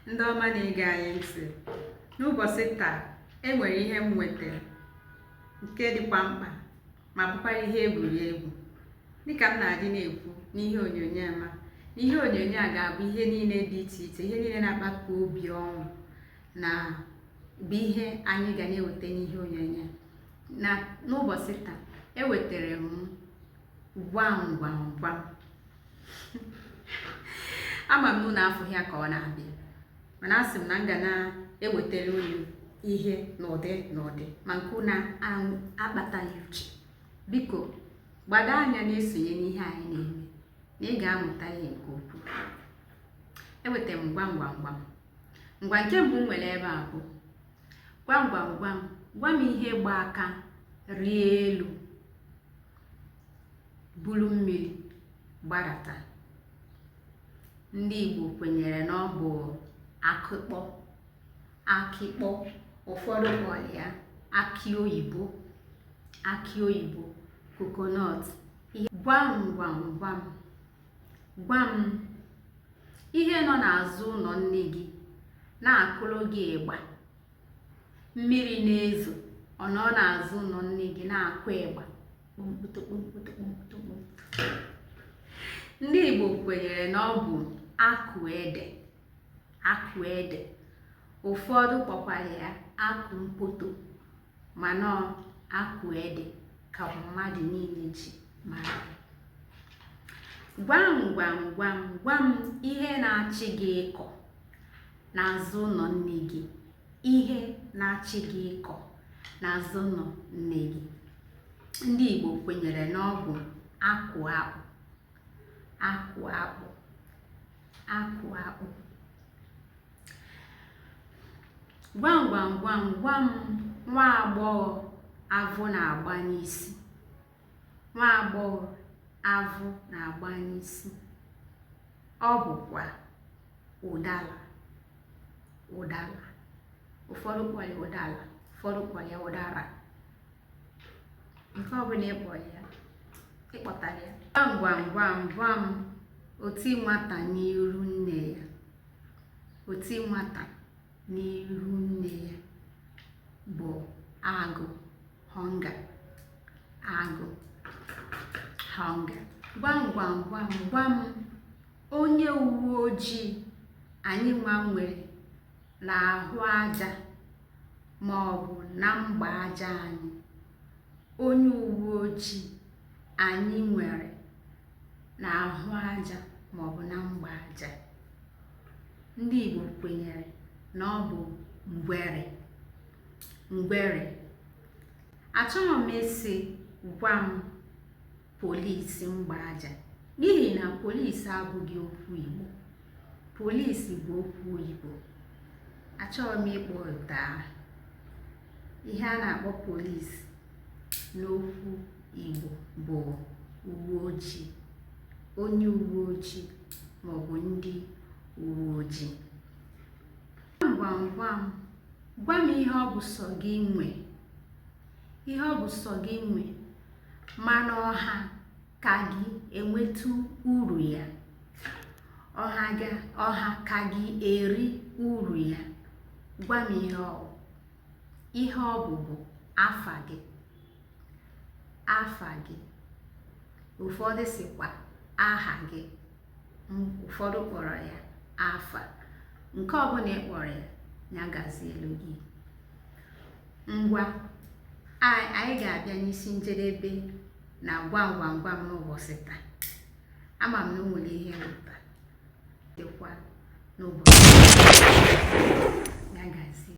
ndị ọma na-ege anyị ntị n'ụbọchị taa e nwere ihe m wetara nke dịkwa mkpa ma bụkwara ihe egwuregwu dịka m na-adị na-ekwu n'ihe onyonyo ma ihe onyonyo a ga-abụ ihe niile dị iche iche ihe niile na-akpata obi ọṅụ na bụ ihe anyị ga na-eweta n'ihe onyonyo na n'ụbọchị taa ewetara m gwam gwam gwam ama m na afụghị ya ka ọ na-abịa mana asị m na m ga na-ewetara unu ihe n'ụdị n'ụdị ma nke unu akpataghị uche biko gbado anya na-esonye n'ihe anyị na-eme na ị ga-amụta ihe nke ukwuu eweta m gwam gwam gwam ngwa nke mbụ m nwere ebe a bụ gwam gwam gwam gwa m ihe gba aka rịa elu buru mmiri gbadata ndị Igbo kwenyere na ọ bụ akịkpọ akịkpọ ụfọdụ kpọrọ ya akị oyibo akị oyibo coconut gwam gwam gwam gwam ihe nọ n'azụ ụlọ nne gị na-akụrụ gị ịgba mmiri na-ezo ọ nọ n'azụ ụlọ nne gị na-akụ ịgba ndị Igbo kwenyere na ọ bụ akụ ede akụ ede ụfọdụ kpọkwara ya akụ mpoto mana akụ ede ka mmadụ niile ji mara gwam gwam gwam gwam ihe na-achị gị ịkọ n'azụ ụlọ nne gị ihe na-achị gị ịkọ n'azụ ụlọ nne gị ndị Igbo kwenyere na ọ bụ akụ akpụ akụ akpụ akụ akpụ gwam gwam gwam gwam nwa agbọghọ avụ na-agba n'isi nwaagbọghọ avụ na-agba n'isi. Ọ bụkwa ụdala ụdala. Ụfọdụ kpọ ya ụdala, ụfọdụ kpọ ya ụdara. Nke ọbụla ị kpọ ya, ị kpọtara ya. Gwam gwam gwam gwam, oti nwata n'iru nne ya. Oti nwata. n'ihu nne ya bụ agụụ hunger agụụ hunger gwam gwam gwam gwam onye uwe ojii anyị nwa nwere n'ahụ aja ma ọ bụ na mgba aja anyị onye uwe ojii anyị nwere n'ahụ aja maọbụ na mgba aja ndị Igbo kwenyere na ọ bụ ngwere ngwere achọghị m ịsị gwa m polisi mgba aja n'ihi na polisi abụghị okwu Igbo polisi bụ okwu oyibo achọrọ m ịkpọpụta ihe a na-akpọ polisi n'okwu Igbo bụ uwe ojii onye uwe ojii maọbụ ndị uwe ojii gwam gwam gwa m ihe ọ bụ sọ gị nwe ihe ọ bụ sọ gị nwe mana ọha ka gị enwetu uru ya ọha ga ọha ka gị eri uru ya gwa m ihe ọ bụ ihe ọ bụ bụ afa gị afa gị ụfọdụ sịkwa aha gị ụfọdụ kpọrọ ya afa nke ọbụla ị kpọrọ ya nya gazielu gị ngwa anyị ga-abịa n'isi njedebe na gwam gwam gwam n'ụbọchị taa ama m na o nwere ihe mmụta dịkwa n'ụbọchị